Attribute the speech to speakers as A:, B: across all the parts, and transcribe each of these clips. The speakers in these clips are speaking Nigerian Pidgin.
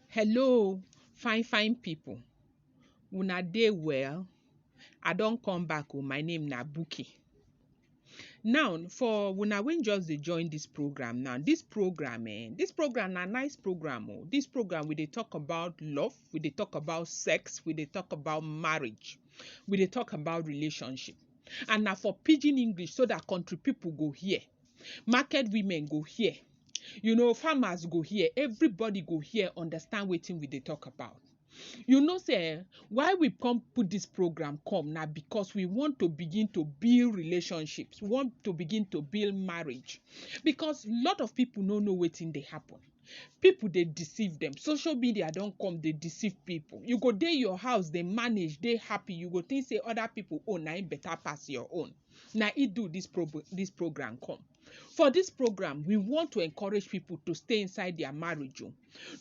A: Hello fine fine pipu, una dey well? I don come back o, my name na Buki. Now for una wey just dey join dis program now, dis program um, dis program na nice program o, dis program we dey talk about love, we dey talk about sex, we dey talk about marriage, we dey talk about relationship and na for pidgin English so dat country pipu go hear. market women go hear, you know farmers go hear, everybody go hear understand wetin we dey talk about. You know sey um why we come put dis program come na because we want to begin to build relationships, we want to begin to build marriage because lot of pipu no know wetin dey happen. Pipu dey deceive dem, social media don come dey deceive pipu. You go dey your house dey manage, dey happy, you go think sey other pipu own na im better pass your own. na im do dis dis program come. For dis program, we want to encourage pipu to stay inside dia marriage o,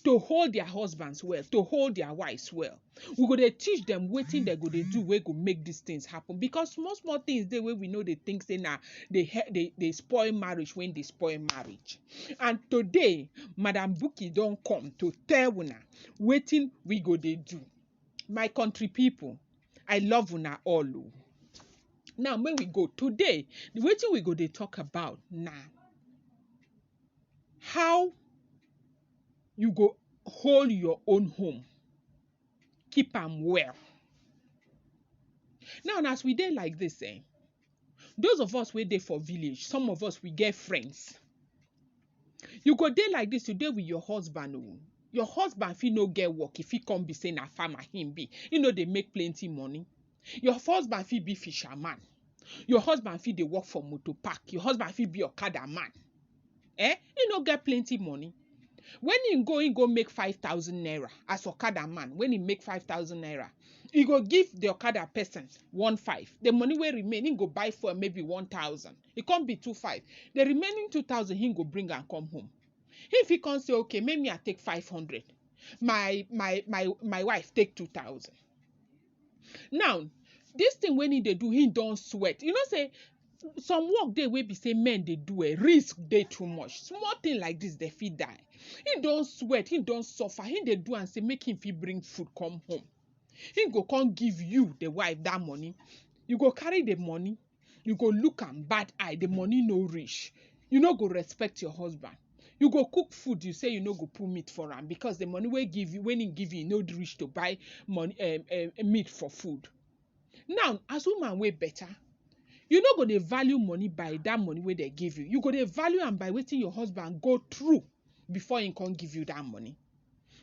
A: to hold dia husbands well, to hold dia wives well. We go dey teach dem wetin dem go dey do wey go make dis tins happen because small small tins dey wey we no dey tink sey na dey dey dey spoil marriage wey dey spoil marriage. And today, Madam Buki don come to tell una wetin we go dey do. My country pipu, I love una all o. Now make we go, today wetin we go dey talk about na how you go hold your own home, keep am well. Now as we dey like dis um, Those of us wey dey for village, some of us we get friends. You go dey like dis, you dey with your husband o, your husband fit no get work, e fit come be sey na farmer im be, im no dey make plenty money, your husband fit be fisherman, your husband fit dey work for motor park, your husband fit be okada man. eh him no get plenty money when him go him go make five thousand naira as okada man when he make five thousand naira he go give the okada person one five the money wey remain him go buy fuel maybe one thousand e come be two five the remaining two thousand him go bring am come home he fit come say okay make me i take five hundred my my my my wife take two thousand Now, dis thing wey im dey do, im don sweat. You know sey some work dey wey be sey men dey do um, risk dey too much. Small thing like dis, dem fit die. Im don sweat, im don suffer, im dey do am sey make im fit bring food come home. Im go come give you, de wife, dat money. You go carry de money, you go look am bad eye, the money no reach, you no go respect your husband. You go cook food, you say you no go put meat for am because the money wey give you, when he give you, e no reach to buy money um um meat for food. Now as woman wey better, you no go dey value money by that money wey dem give you, you go dey value am by wetin your husband go through before he come give you that money.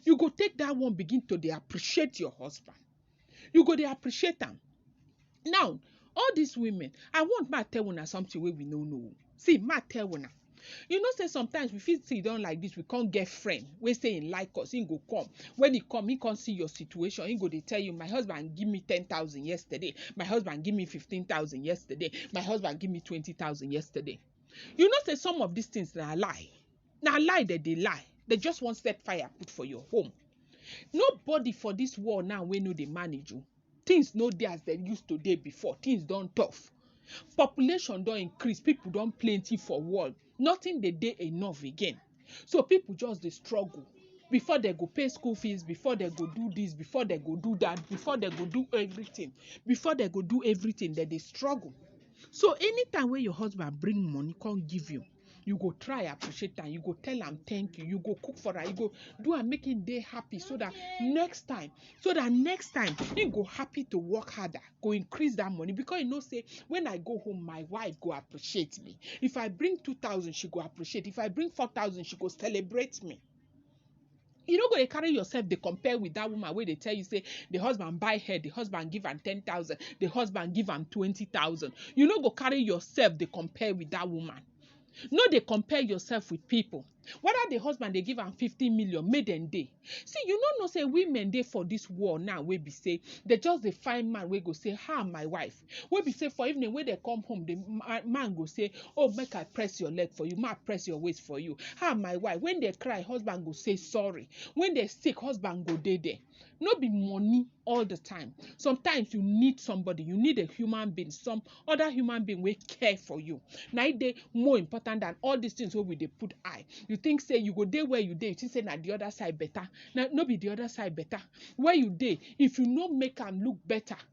A: You go take that one begin to dey appreciate your husband. you go dey appreciate am. Now all dis women I want make I tell una something wey we no know oo, see make I tell una you know sey sometimes we fit sidan like dis we come get friend wey sey im like us im go come wen im come im come see your situation im go dey tell you my husband give me ten thousand yesterday, my husband give me fifteen thousand yesterday, my husband give me twenty thousand yesterday. You know sey some of dis things na lie na lie dem dey lie dem just wan set fire put for your home nobody for this world now wey no dey manage o things no dey as dem use to dey before things don tough population don increase people don plenty for world nothing dey dey enough again so people just dey struggle before dem go pay school fees before dem go do this before dem go do that before dem go do everything before dem go do everything dem dey struggle so anytime wey your husband bring money come give you you go try appreciate am you go tell am thank you you go cook for am you go do am make him dey happy so that next time so that next time he go happy to work harder go increase that money because he know say when i go home my wife go appreciate me if i bring two thousand she go appreciate if i bring four thousand she go celebrate me you no go dey carry yourself dey compare with that woman wey dey tell you say the husband buy her the husband give am ten thousand the husband give am twenty thousand you no go carry yourself dey compare with that woman no dey compare yourself with people whether the husband dey give am fifty million make dem dey see you no know say women dey for this world now wey be say they just dey find man wey go say ha my wife wey be say for evening wey dem come home the ma- man go say oh make i press your leg for you make i press your waist for you ah my wife when they cry husband go say sorry when they sick husband go dey there no be money all the time sometimes you need somebody you need a human being some other human being wey care for you na e dey more important than all these things wey we dey put eye you think say you go dey where you dey you think say na the other side better na no be the other side better where you dey if you no make am look better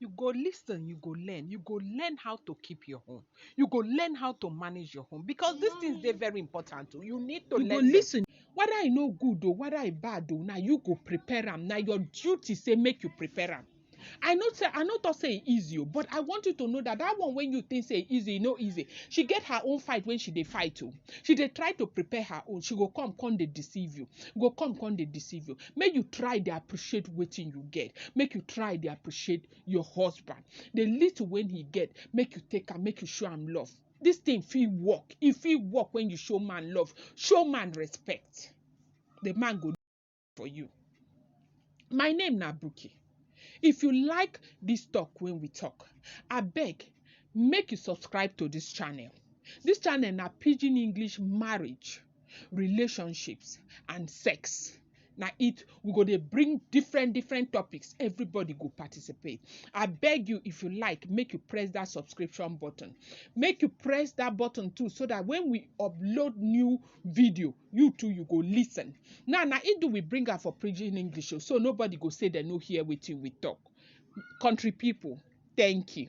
A: You go lis ten, you go learn, you go learn how to keep your home, you go learn how to manage your home because these things dey very important o. Oh. You need to you learn. You go lis ten whether e no good o, oh, whether e bad o, oh, na you go prepare am. Na your duty say make you prepare am. I know say I no talk say e easy o, but I want you to know that that one when you think say e easy, e no easy. She get her own fight when she dey fight o. She dey try to prepare her own. She go come come dey deceive you. Go come come dey deceive you. make you try dey appreciate wetin you get make you try dey appreciate your husband the little wey he get make you take am make you show am love this thing fit work e fit work when you show man love show man respect the man go for you my name na buki if you like this talk wey we talk abeg make you subscribe to this channel this channel na pidgin english marriage relationships and sex na it we go dey bring different different topics everybody go participate i beg you if you like make you press that subscription button make you press that button too so that when we upload new video you too you go listen now na it do we bring am for pidgin english o so nobody go say dem no hear wetin we talk country people thank you.